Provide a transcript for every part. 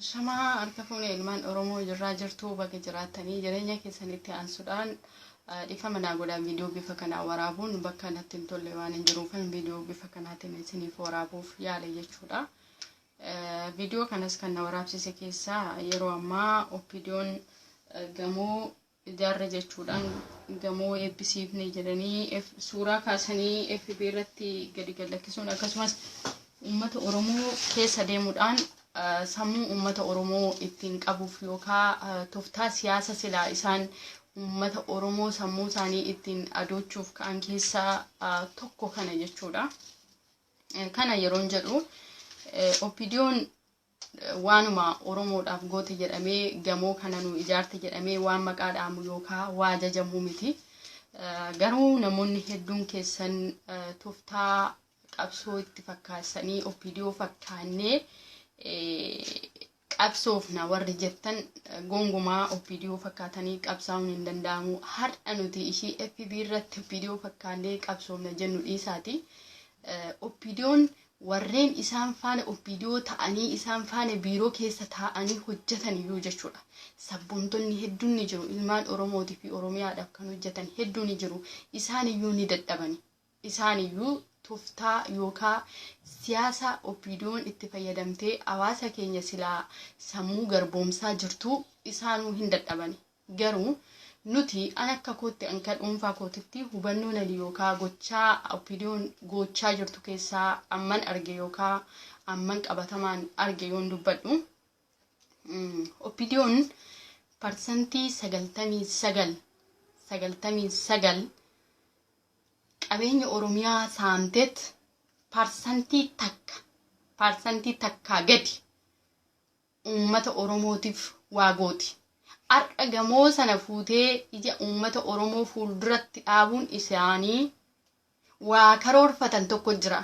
Ashamaa harka fuune ilmaan Oromoo jirraa jirtuu baga jiraattanii jireenya keessan itti aansuudhaan dhiifama naa godhaa viidiyoo bifa kanaan waraabuun bakka natti hin tolle waan hin jiruufan viidiyoo bifa kanaatiin isiniif waraabuuf yaale jechuudha. Viidiyoo kanas kan na waraabsise keessaa yeroo ammaa oppiidiyoon gamoo ijaarre jechuudhaan gamoo eebbisiifne jedhanii F- suuraa kaasanii FB irratti gadi gallakkisuun akkasumas uummata Oromoo keessa deemuudhaan ah, sammuu uummata Oromoo ittiin qabuuf yookaan ah, toftaa siyaasa silaa isaan uummata Oromoo sammuu isaanii ittiin adoochuuf ka'an keessaa ah, tokko kana jechuudha. Eh, Kana yeroon jedhu eh, OPDOn Waanuma Oromoodhaaf goote jedhamee, gamoo kana nuu ijaarte jedhamee waan maqaa dha'amu yookaa waa ajajamuu miti. Garuu namoonni hedduun keessan toftaa qabsoo itti fakkaasanii OPDO fakkaannee qabsoofna warri jettan gongumaa OPDO fakkaatanii qabsaa'uun hin danda'amu. Har'a nuti ishii FB irratti OPDO fakkaannee qabsoofna jennu dhiisaati. OPDOn warreen isaan faana Opdo ta'anii isaan faana biiroo keessa taa'anii hojjetan iyyuu jechuudha. Sabboontonni hedduun ni jiru ilmaan Oromooti fi Oromiyaadhaaf kan hojjetan hedduu ni jiru. Isaan iyyuu ni dadhabani. Isaan iyyuu toftaa yookaa siyaasa Opdoon itti fayyadamtee hawaasa keenya silaa sammuu garboomsaa jirtuu isaanuu hin dadhabani. Garuu, nuti, an akka kootti, an ka dhuunfaa kootitti, hubannoo nadi yookaa gochaa OPDOn goochaa jirtu keessaa amman arge yookaa amman qabatamaan arge yoon dubbadhu, OPDOn parsantii 99, 99, qabeenya Oromiyaa saamteet parsantii takka, parsantii takkaa gadi, uummata Oromootiif waa gooti. Har'a gamoo sana fuutee ija uummata Oromoo fuulduratti dhaabuun isaanii waa karoorfatan tokko jira.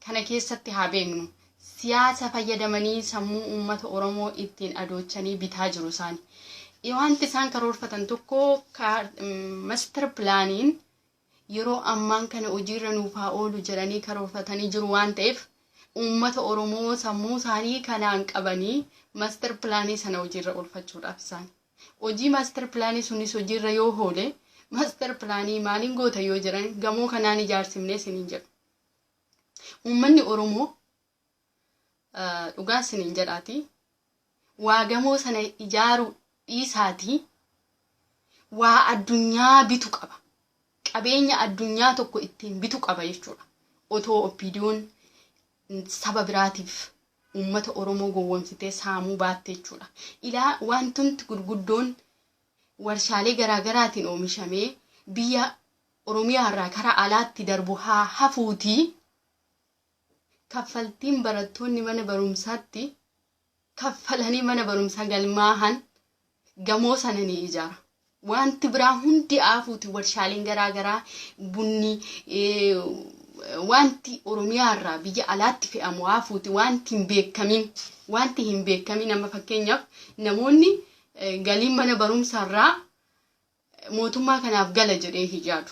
Kana keessatti haa beeknu. Siyaasa fayyadamanii sammuu uummata Oromoo ittiin adoochanii bitaa jiru isaani. Waanti isaan karoorfatan tokko master pilaaniin yeroo ammaan kana hojiirra nuuf haa oolu jedhanii karoorfatanii jiru waan ta'eef uummata Oromoo sammuu isaanii kanaan qabanii master pilaanii sana hojiirra oolfachuudhaaf isaan hojii master pilaanii sunis hojiirra yoo hoole master pilaanii maaliin goota yoo jedhan gamoo kanaan ijaarsimnee siniin jedhu. Uummanni Oromoo Dhugaa isiniin jedhaati waa gamoo sana ijaaru dhiisaati waa addunyaa bitu qaba. Qabeenya addunyaa tokko ittiin bitu qaba jechuudha. Otoo oppiidiyoon saba biraatiif uummata Oromoo gowwomsitee saamuu baatte jechuudha. Ilaa wantumti gurguddoon warshaalee garaagaraatiin oomishamee biyya Oromiyaa irraa kara alaatti darbu haa hafuutii Kaffaltiin barattoonni mana barumsaatti kaffalanii mana barumsaa galmaahan gamoo sana ni ijaara. Wanti biraa hundi aafuuti warshaaleen garaa garaa bunni wanti Oromiyaa irraa biyya alaatti fe'amu aafuuti wanti hin beekamin wanti hin beekamin amma fakkeenyaaf namoonni galiin mana barumsaa irraa mootummaa kanaaf gala jedhee hin yaadu.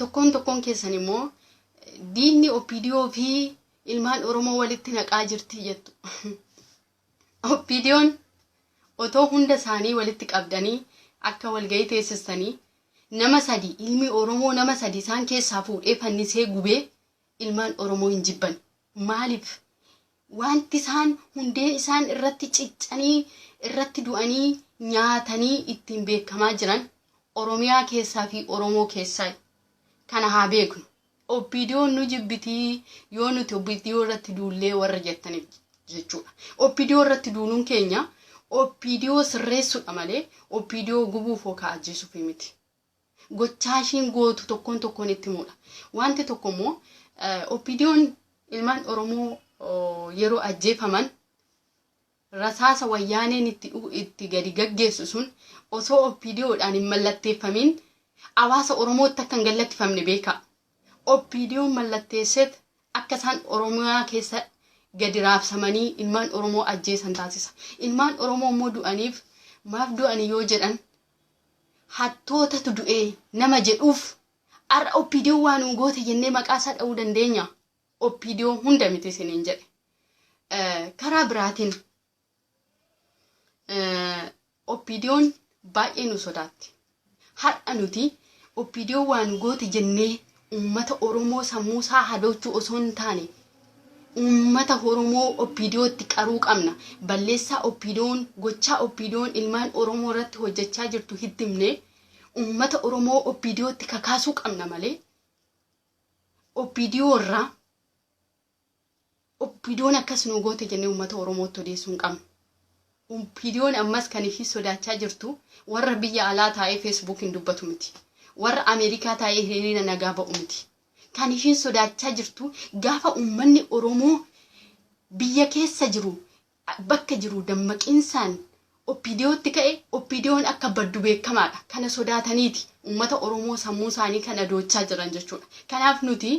tokkoon tokkoon keessan immoo diinni OPDO fi ilmaan Oromoo walitti naqaa jirti jettu. OPDOn otoo hunda isaanii walitti qabdanii akka walgahii teessistanii nama sadii ilmi Oromoo nama sadii isaan keessaa fuudhee fannisee gubee ilmaan Oromoo hin jibban. Maaliif? Wanti isaan hundee isaan irratti ciccanii, irratti du'anii, nyaatanii ittiin beekamaa jiran Oromiyaa keessaa fi Oromoo keessaayi. Kana haa beeknu. OPDOn nu jibbiti yoo nuti OPDO irratti duullee warra jettaniif jechuudha. OPDO irratti duuluun keenya OPDO sirreessuudha malee OPDO gubuuf yookaan ajjeesuuf miti. Gochaa ishiin gootu tokkoon tokkoon itti himuudha. Wanti tokko immoo OPDOn ilmaan Oromoo yeroo ajjeefaman rasaasa wayyaaneen itti itti gadi gaggeessu sun osoo OPDOdhaan hin mallatteeffamiin hawaasa Oromootti akka hin gallattifamne beeka. OPDOn mallatteesseet akka isaan Oromiyaa keessa gadi raabsamanii ilmaan Oromoo ajjeesan taasisa. Ilmaan Oromoo immoo du'aniif maaf du'ani yoo jedhan Hattootatu du'e nama jedhuuf har'a OPDOn waa nuu goote jennee maqaa isaa dha'uu dandeenyaa? OPDO hunda miti isiniin jedhe. Karaa biraatiin OPDOn baay'ee nu sodaatti. Har'a nuti OPDO waa nu goote jennee Uummata Oromoo sammuu isaa hadoochuu osoo hin taane uummata Oromoo OPDOtti qaruu qabna. Balleessaa OPDOn, gochaa OPDOn ilmaan Oromoo irratti hojjechaa jirtu hitti himnee uummata Oromoo OPDOtti kakaasuu qabna malee OPDO irraa Oppidoon akkas nuu goote jennee uummata Oromootti odeessuu hin qabnu. Oppidoon ammas kan ishii sodaachaa jirtu warra biyya alaa taa'ee Feesbuukiin dubbatu miti. Warra Ameerikaa taa'ee hiriira nagaa ba'u miti. Kan ishiin sodaachaa jirtu gaafa uummanni Oromoo biyya keessa jiru bakka jiru dammaqiinsaan OPDOtti ka'e OPDOn akka baddu beekamaadha. Kana sodaataniiti uummata Oromoo sammuu isaanii kan adoochaa jiran jechuudha. Kanaaf nuti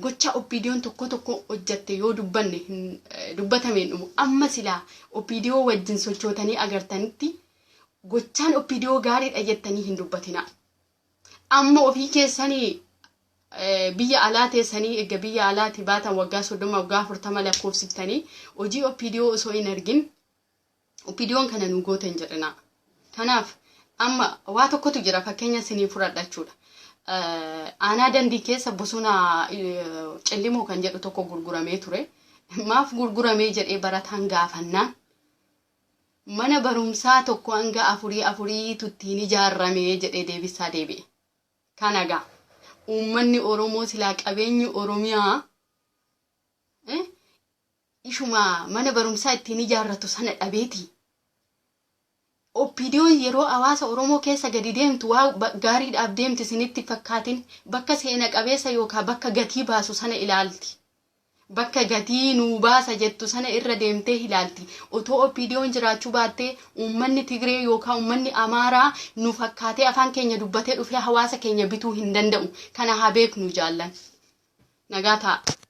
gochaa OPDOn tokkoo tokkoo hojjatte yoo dubbanne hin dubbatame hin dhumu. Amma silaa OPDO wajjin sochootanii agartanitti gochaan OPDO gaariidha jettanii hin dubbatinaa. Amma ofii keessanii biyya alaa teessanii erga biyya alaati baatan waggaa soddoma waggaa afurtama lakkoofsiftanii hojii OPDO osoo hin argin OPDOn kana nu goote hin jedhina. Kanaaf amma waa tokkotu jira fakkeenya isinii fudhadha jechuudha. Aanaa dandii keessa bosona cillimoo kan jedhu tokko gurguramee ture. Maaf gurguramee jedhee barataan gaafannaan Mana barumsaa tokko hanga afurii afurii tu ittiin ijaarrame jedhee deebissaa deebi'e. Kana gaa uummanni Oromoo silaa qabeenyi Oromiyaa eh ishuma mana barumsaa ittiin ijaarratu sana dhabeeti. OPDOn yeroo hawaasa Oromoo keessa gadi deemtu waa ba- gaariidhaaf deemti isinitti hin fakkaatin. Bakka seena qabeessa yookaan bakka gatii baasu sana ilaalti. Bakka gatii nuu baasa jettu sana irra deemtee hilaalti. Otoo OPDOn jiraachuu baattee uummanni Tigree yookaa uummanni Amaaraa nu fakkaatee afaan keenya dubbatee dhufee hawaasa keenya bituu hin danda'u. Kana haa beeknu jaallan. Nagaa ta'aa.